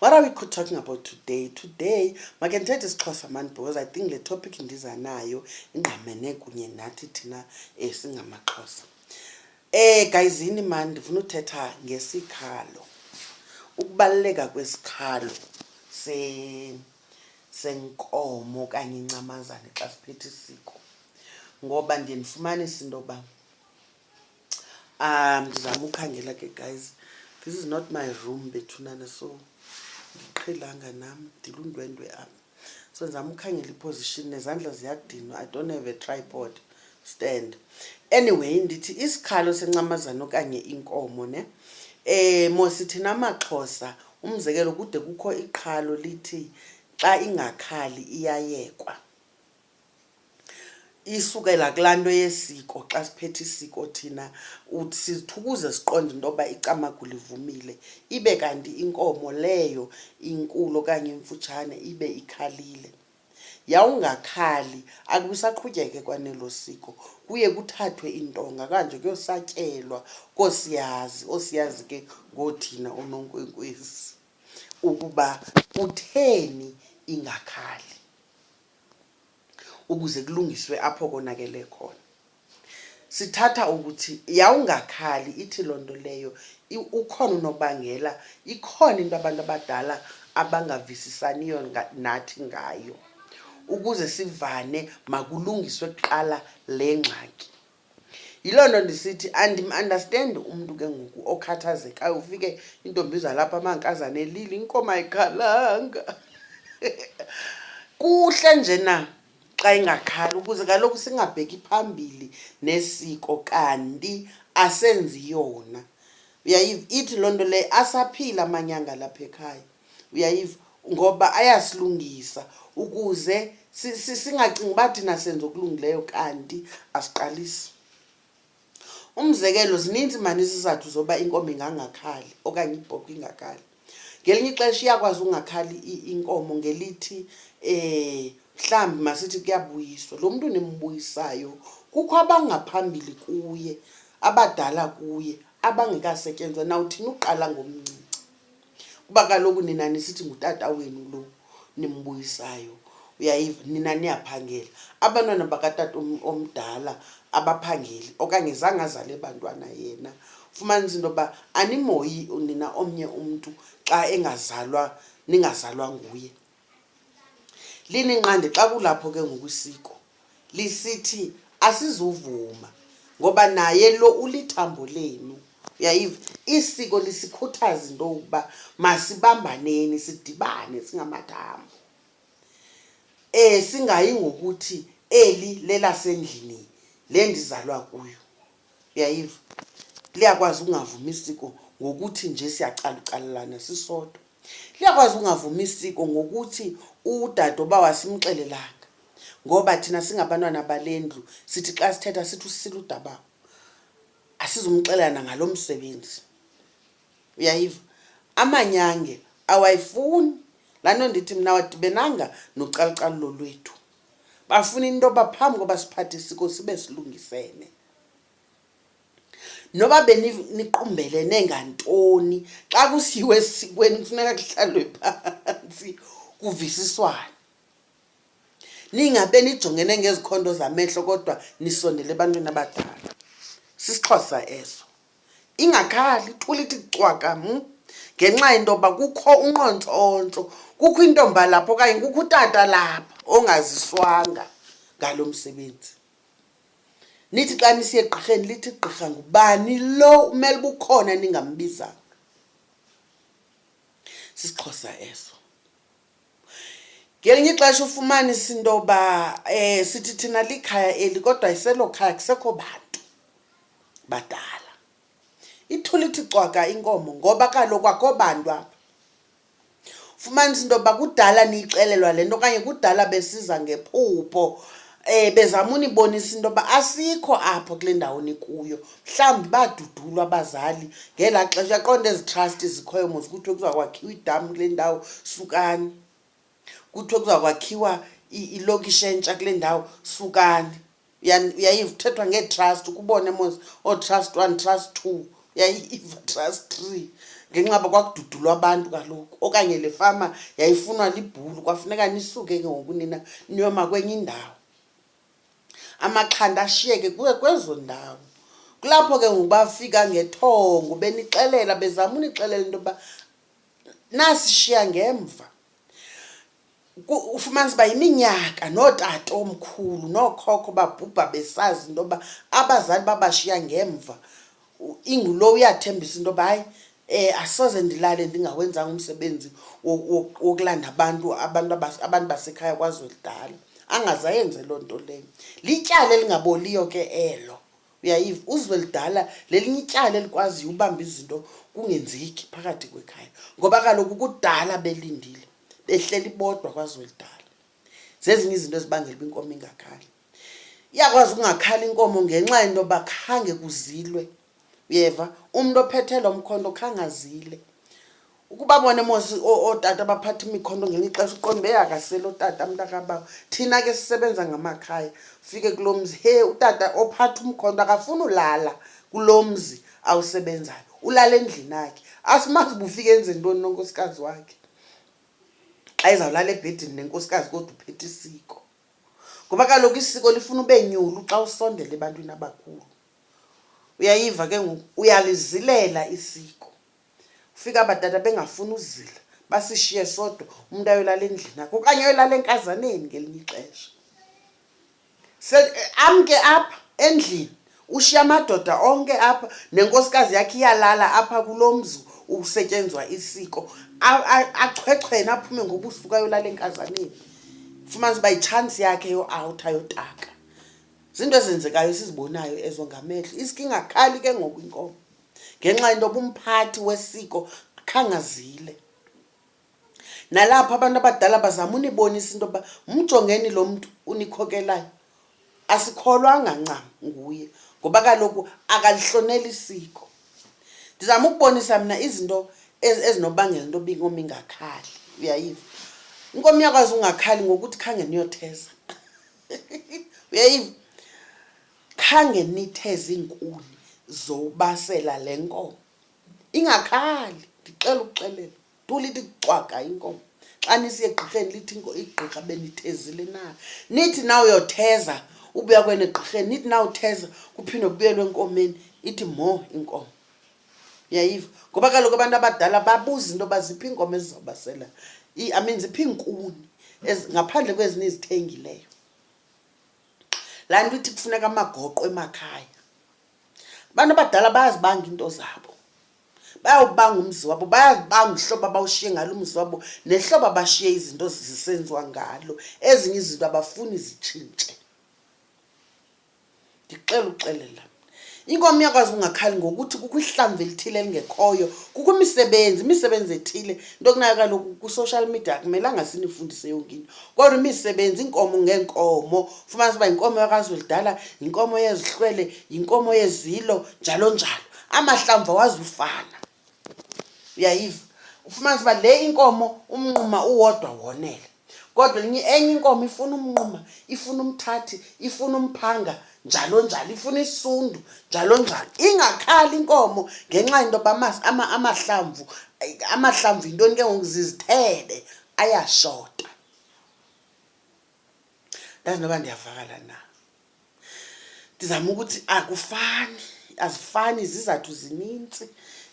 What are we talking about today? Today, makendithethe isiXhosa mani because I think le topic ndiza nayo ingqamene kunye nathi thina eh, singamaXhosa. Eh gayizini mani ndifuna uthetha ngesikhalo. Ukubaluleka kwesikhalo se senkomo kanye incamazane xa siphethe isiko. Ngoba ndiye ndifumanise into yoba um ndizama ukhangela ke guys this is not my room bethunana so ndiqhelanga nam ndilundwendwe apha so ndizama ukhangela iposition nezandla ziyadinwa i don't have a tripod stand anyway ndithi isikhalo sencamazana okanye inkomo ne eh mosi thina amaxhosa umzekelo kude kukho iqhalo lithi xa ingakhali iyayekwa isukela kulaa nto yesiko xa siphethe isiko thina uthi sizithukuze siqonde into yoba icamagu livumile ibe kanti inkomo leyo inkulu okanye imfutshane ibe ikhalile yawungakhali akusaqhutyeke kwanelo siko kuye kuthathwe iintonga kanje kuyosatyelwa koosiyazi oosiyazi ke ngoothina oononkwenkwezi ukuba kutheni ingakhali ukuze kulungiswe apho konakele khona. Sithatha ukuthi yawungakhali ithi loo nto leyo ukhona unobangela, ikhona into abantu abadala abangavisisaniyo nathi ngayo. Ukuze sivane makulungiswe kuqala le ngxaki. Yiloo nto ndisithi andim-understand umntu ke ngoku okhathazekayo ufike intombi zalapha amankazana elile inkomo ayikhalanga kuhle nje na xa ingakhali ukuze kaloku singabheki phambili nesiko kanti asenzi yona uyayiva ithi loo nto leyo asaphile amanyanga lapha ekhaya uyayiva ngoba ayasilungisa ukuze singacingi uba thina senza okulungileyo kanti asiqalisi umzekelo zininzi mani izizathu zoba inkomo ingangakhali okanye ibhokhwe ingakhali ngelinye ixesha iyakwazi ungakhali inkomo ngelithi um mhlawumbi masithi kuyabuyiswa lo mntu nimbuyisayo kukho abangaphambili kuye abadala kuye abangekasetyenzwa nawuthini uqala ngomncinci kuba kaloku nina nisithi ngutata wenu lo nimbuyisayo uyayiva nina niyaphangela abantwana bakatata omdala abaphangeli okanye zange azale bantwana yena fumanisa into yoba animoyi nina omnye umntu xa engazalwa ningazalwa nguye lininqande xa kulapho ke ngoku isiko lisithi asizuvuma ngoba naye lo ulithambo lenu uyayiva isiko lisikhuthaza into yokuba masibambaneni sidibane singamathambo um singayi ngokuthi eli lelasendlini le ndizalwa kuyo uyayiva liyakwazi ukungavumi isiko ngokuthi nje siyacalucalelana sisodwa liyakwazi ukungavumi isiko ngokuthi udade uba wasimxelelanga ngoba thina singabantwana bale ndlu sithi xa sithetha sithi usisile udabawo asizumxelelana ngalo msebenzi uyayiva amanyange awayifuni laa nto ndithi mna wadibenanga nocalucalulo lwethu bafuna into yoba phambi koba siphathe isiko sibe silungisene noba beniqumbelene ngantoni xa kusiyiwe esikweni kufuneka kuhlalwe phantsi kuvisiswane ningabe nijongene ngezikhondo zamehlo kodwa nisondele ebantwini abadala sisixhosa eso ingakhali ithula ithi cwaka m hmm? ngenxa yento yoba kukho unqontsontso kukho intomba lapha okanye kukho utata lapha ongaziswanga ngalo msebenzi Nithi xa nisiye egqirheni lithi gqirha ngubani lo umele ubukhona ningambizanga. SisiXhosa eso. Ngelinye ixesha ufumanisa into yoba um sithi thina likhaya eli kodwa iselo khaya kusekho bantu badala. Ithula ithi cwaka inkomo ngoba kaloku akho bantu apha. fumanisa into yokuba kudala niyixelelwa le nto okanye kudala besiza ngephupho um bezama unibonisa into yoba asikho apho kule ndawo nikuyo mhlawumbi badudulwa abazali ngelaa xesha uyaqonda ezi trust zikhoyo mos kuthiwe kuza kwakhiwa idam kule ndawo sukani kuthiwe kuza kwakhiwa ilokishi entsha kule ndawo sukani yayithethwa ngee-trust ukubone mos ootrust one trust two yayiva trust three ngenxa ba kwakududulwa abantu kaloku okanye le fama yayifunwa libhulu kwafuneka nisuke ke ngoku nina niyoma kwenye indawo amaxhanda ashiyeke kuwe kwezo ndawo kulapho ke ngoku bafika ngethongo benixelela bezama unixelela into yoba nasishiya ngemva ku- ufumanisa uba yiminyaka nootata omkhulu nookhokho babhubha besazi into yoba abazali babashiya ngemva U- ingulo uyathembisa into yoba hayi um asoze ndilale ndingawenzanga umsebenzi wo- wo- wokulanda abantu abantu abas- abantu basekhaya kwazwelidala angaze ayenze loo nto leyo lityala elingaboliyo ke elo uyayiva uzwelidala lelinye ityala elikwaziyo ubamba izinto kungenzeki phakathi kwekhaya ngoba kaloku kudala belindile behleli bodwa kwazwelidala zezinye izinto ezibangela uba inkomo ingakhali iyakwazi ukungakhali inkomo ngenxa yento yoba khange kuzilwe uyeva umntu ophethela umkhonto khange azile ukuba bona mos ootata baphatha imikhonto ngenye ixesha uqonde beyakasele otata mntakabawo thina ke sisebenza ngamakhaya ufike kulo mzi he utata ophatha umkhonto akafuni ulala kulo mzi awusebenzayo ulala endlini akhe asimazi bufike enze ntoni nonkosikazi wakhe xa izawulala ebhedini nenkosikazi kodwa uphethe isiko ngoba kaloku isiko lifuna ube nyulu xa usondela ebantwini abakhulu uyayiva ke ngoku uyalizilela isiko ufika abadada bengafuni uzila basishiye sodwa umntu ayolala endlini akho okanye ayolala enkazaneni ngelinye ixesha Se- amke apha endlini ushiya amadoda onke apha nenkosikazi yakhe iyalala apha kulo mzi usetyenzwa isiko A- a- achwechwene aphume ngobusuku ayolala enkazaneni fumanisa uba yitshansi yakhe yoawutha yotaka zinto ezenzekayo esizibonayo ezo ngamehlo isiko ingakhali ke ngoku inkomo ngenxa yento yoba umphathi wesiko khangazile Nalapho abantu abadala bazama unibonisa into yokuba mjongeni lo mntu unikhokelayo, asikholwanga ncam nguye ngoba kaloku akalihloneli isiko. Ndizama ukubonisa mna izinto ezinobangela into yoba inkomo ingakhali, uyayiva. Inkomo iyakwazi ungakhali ngokuthi khange niyotheza, uyayiva. Khange nitheze iinkuni zobasela le nkomo, ingakhali ndixele ukuxelela. tu lithi cwaga inkomo xa nisiye egqirheni lithi igqirha benithezile na nithi na uyotheza ubuya kwene egqirheni nithi na utheza kuphinde kubuyelwe enkomeni ithi mo inkomo yayiva ngoba kaloku abantu abadala babuza into yoba ziphi iinkomo ezizobasela i mean ziphi iinkuni ngaphandle kwezinye izithengileyo laa nto ithi kufuneka amagoqo emakhaya abantu abadala bayazibanga iinto zabo bayawubanga umzi wabo bayazibanga uhlobo abawushiye ngalo umzi wabo nehlobo abashiye izinto zisenziwa ngalo ezinye izinto abafuni zitshintshe ndixela uxelela inkomo iyakwazi ungakhali ngokuthi kukho ihlamvu elithile elingekhoyo kukho imisebenzi imisebenzi ethile into kunayo kaloku kwi-social media akumelanga sinifundise yonke into kodwa imisebenzi iinkomo ngeenkomo fumanisa uba yinkomo yakazulidala yinkomo yezihlwele yinkomo yezilo njalo njalo amahlamvu awazufana uyayiva ufumanisa uba le inkomo umnquma uwodwa wonele kodwa enye enye inkomo ifuna umnquma ifuna umthathi ifuna umphanga njalo njalo ifuna isundu njalo njalo ingakhali inkomo ngenxa yento yoba amahlamvu amahlamvu yintoni ke ngoku zizithebe ayashota ndazi noba ndiyavakala na ndizama ukuthi akufani azifani izizathu zinintsi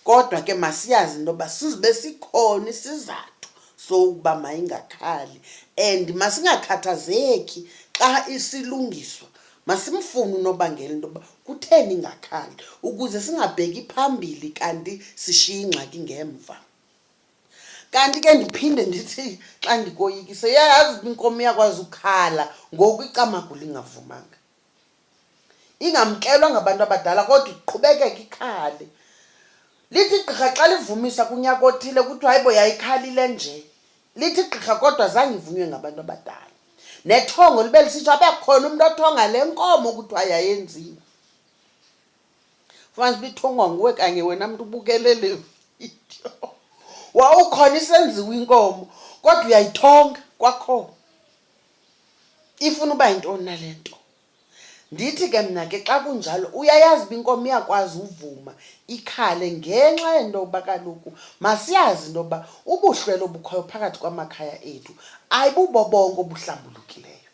kodwa ke masiyazi into yoba sizibe sikhona isizathu sokuba mayingakhali and masingakhathazeki xa isilungiswa masimfune unobangela into yoba kutheni ingakhali ukuze singabheki phambili kanti sishiye ingxaki ngemva kanti ke ndiphinde ndithi xa ndikoyikise yayazi uba inkomo iyakwazi ukukhala ngoku icamagula ingavumanga ingamkelwa ngabantu abadala kodwa iqhubekeke ikhale lithi gqirha xa livumisa kunyaka othile kuthiwa hayibo yayikhalile nje lithi gqirha kodwa zange ivunywe ngabantu abadala nethongo libe lisitsho abe khona umntu othonga le nkomo kuthiwa yayenziwe fumanisa uba ithongwa nguwe kanye wena mntu ubukele le vidiyo wawukhona isenziwa inkomo kodwa uyayithonga kwakhona ifuna uba yintoni na le nto ndithi ke mna ke xa kunjalo uyayazi uba inkomo iyakwazi uvuma ikhale ngenxa yento yokuba kaloku masiyazi into yokuba ubuhlwelo obukhoyo phakathi kwamakhaya ethu ayibubobonke obuhlambulukileyo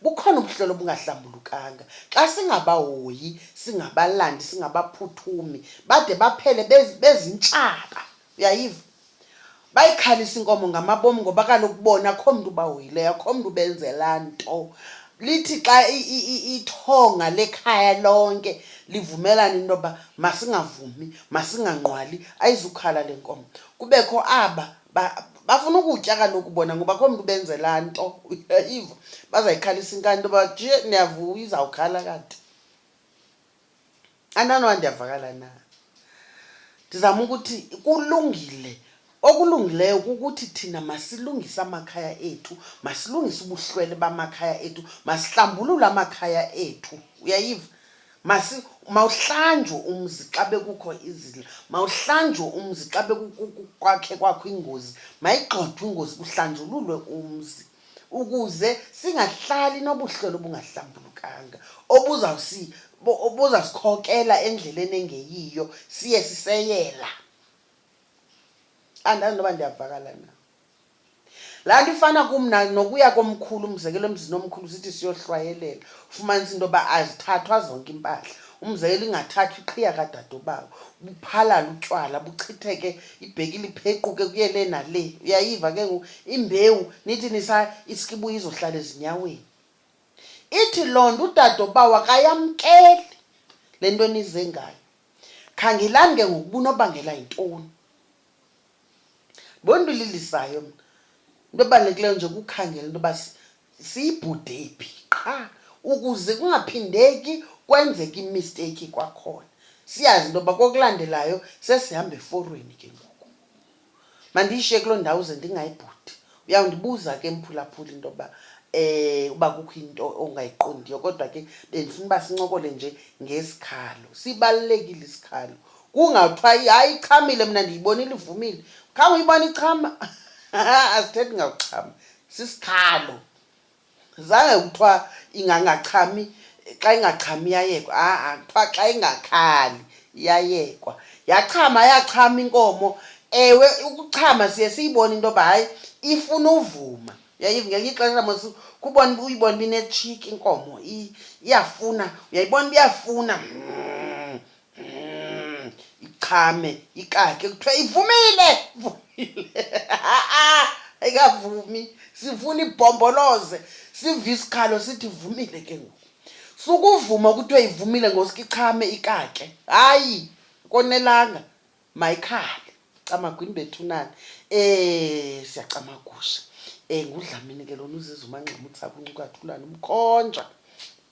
bukhona ubuhlolo obungahlambulukanga xa singabahoyi singabalandi singabaphuthumi bade baphele bezintshaba uyayiva bayikhalisa inkomo ngamabomi ngoba kaloku bona akho mntu ubahoyileyo akho mntu ubenzela nto lithi xa ithonga lekhaya lonke livumelana into yoba masingavumi masinganqwali ayizukhala le nkomo kubekho aba bafuna ukutya kaloku bona ngoba komntu benzela nto iva bazayikhalisa inkani into yoba je niyavuya izawukhala kanti ananowa ndiyavakala na ndizama ukuthi kulungile okulungileyo kukuthi thina masilungise amakhaya ethu masilungise ubuhlwele bamakhaya ethu masihlambulule amakhaya ethu uyayiva masi mawuhlanjwe umzi xa bekukho izila mawuhlanjwe umzi xa bekukwakhe kwakho ingozi mayigxothwe ingozi kuhlanjululwe umzi ukuze singahlali nobuhlolo obungahlambulukanga obuzawusikhokela endleleni engeyiyo siye siseyela andazi noba ndiyavakala na laa nto ifana kum nokuya komkhulu umzekelo emzini omkhulu sithi siyohlwayelela ufumanisa into yoba azithathwa zonke impahla umzekelo ingathathwa iqhiya kadadobawo buphalala utywala buchitheke ibheki liphequke kuye le nale uyayiva ke ngoku imbewu nithi nisa isikibuya izohlala ezinyaweni ithi loo nto udadobawo akayamkeli le nto enize ngayo khangelani ke ngoku bunobangela yintoni Ndibona into ililisayo mna. Into ebalulekileyo nje kukhangela into yoba siyibhude phi qha ukuze kungaphindeki kwenzeka imisteyikhi kwakhona. Siyazi into yoba kokulandelayo sesihamba eforweni ke ngoku. Mandiyishiye kuloo ndawo ze ndingayibhudi Uyawundibuza ke mphulaphuli into yokuba eh uba kukho into ongayiqondiyo kodwa ke bendifuna uba sincokole nje ngesikhalo sibalulekile isikhalo kungathiwa hayi ichamile mna ndiyibonile ivumile khange uyibona ichama asithethi ngakuchama sisikhalo zange kuthiwa ingangachami xa ingachami iyayekwa ha-a kuthiwa xa ingakhali iyayekwa yachama yachama inkomo ewe ukuchama siye siyibone into yoba hayi ifuna uvuma yayiv ngelinye ixesha mos kubona uyibona uba inetshiki inkomo iyafuna uyayibona uba iyafuna Mm, ichame ikake kuthiwa ivumile ivumile Ha-a, ayikavumi sifuna ibhomboloze sive isikhalo sithi ivumile ke ngoku sukuvuma kuthiwa ivumile ngosuke ichame ikake hayi konelanga mayikhale camagwini bethunani um siyacamagusha um ngudlamini ke lona uziza umangxama uthi sakuncukathulana umkhonjwa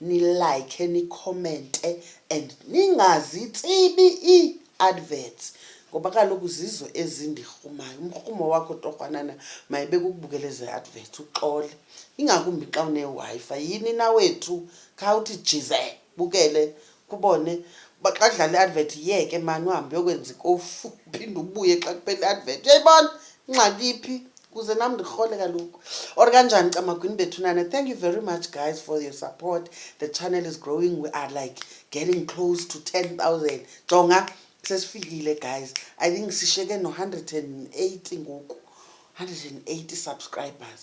nilike nikhomente and ningazitsibi ii-adverts ngoba kaloku zizo ezindirhumayo umrhumo wakho torhwanana mayibe kukubukela ezi adverts uxole ingakumbi xa unewifi yini nawethu khawuthi jize bukele kubone uba xa kudlala i-advert yeke mani uhambe uyokwenza ikofu uphinde ubuye xa kuphela i-advert uyayibona ingxaki phi kuze nam ndirhole kaloku or kanjani camagwini bethunana thank you very much guys for your support the channel is growing we are like getting close to 10000 jonga sesifikile guys i think sisheke no-180 ngoku 180 subscribers